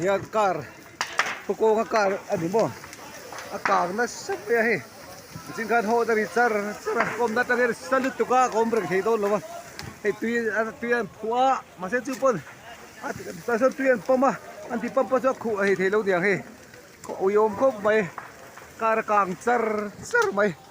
hian car khawk kawnga car a ni maw a kang nasa mai a hei engtin khan haw dali char char a kawmna atang hian sal lutuk a kawm reng thei dawn lo va hei tui a tui a han phuh a mahse chu pawn a tah chuan tui an pump a an tih pump a chu a khuh a hei theih lo niang hei ui awm khawp mai car a kang char char mai.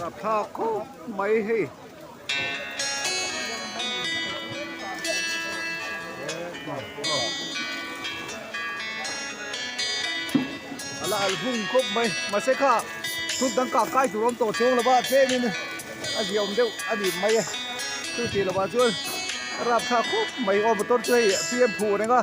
Rak thla khawp mai hei. Ala al hung khawp mai. Mase kha thut dang kah kai tur awm tawh chuang lova tlem in a ziaawm deuh a nih mai a. Chutih lovah chuan rap thla khawp mai. Aw motor chu hei apm phu reng a.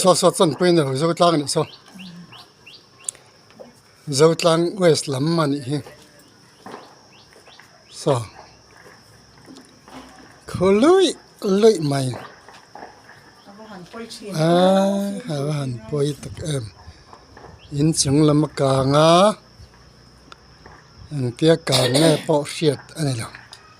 Saw saw chuan paint a lo zo tlang leh saw zo tlang west lam a nih hi saw khaw luih luih mai aaa a va han pawi tak em in chung lama kang a engtia kang nge pawh hriat a ni lo.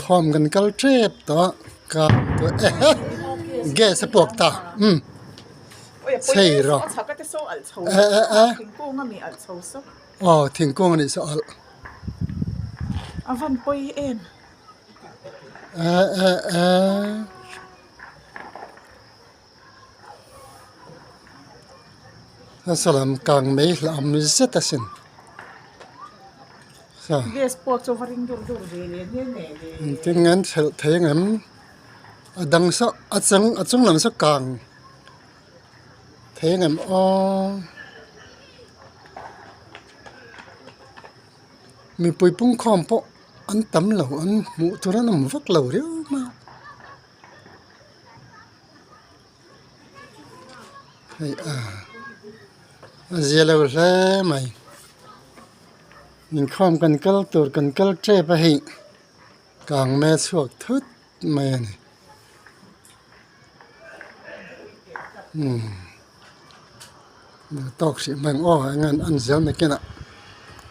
khawm kan kal tep tawh a kap pawh eha gas a puak ta umm chei rawh eeh aw thingkung anih suh alh eeh eeh. a salam kang mai hla awm zet a sin sa gas pawh chu va ring dur dur ve leh nghe nghe a ni in tin ngen hralh thei ang em a dang sah a chang a chung lam saw kang thei ang em aww mipui pungkhawm pawh an tam lo an hmuh tur an awm vak lo reuh mai. hei a a zialo hle mai inkhawm kan kal tur kan kal tep a hih kang nge chhuak thut mai a ni umm tawk hrih mai ang aw engaihin an zir nakin ah.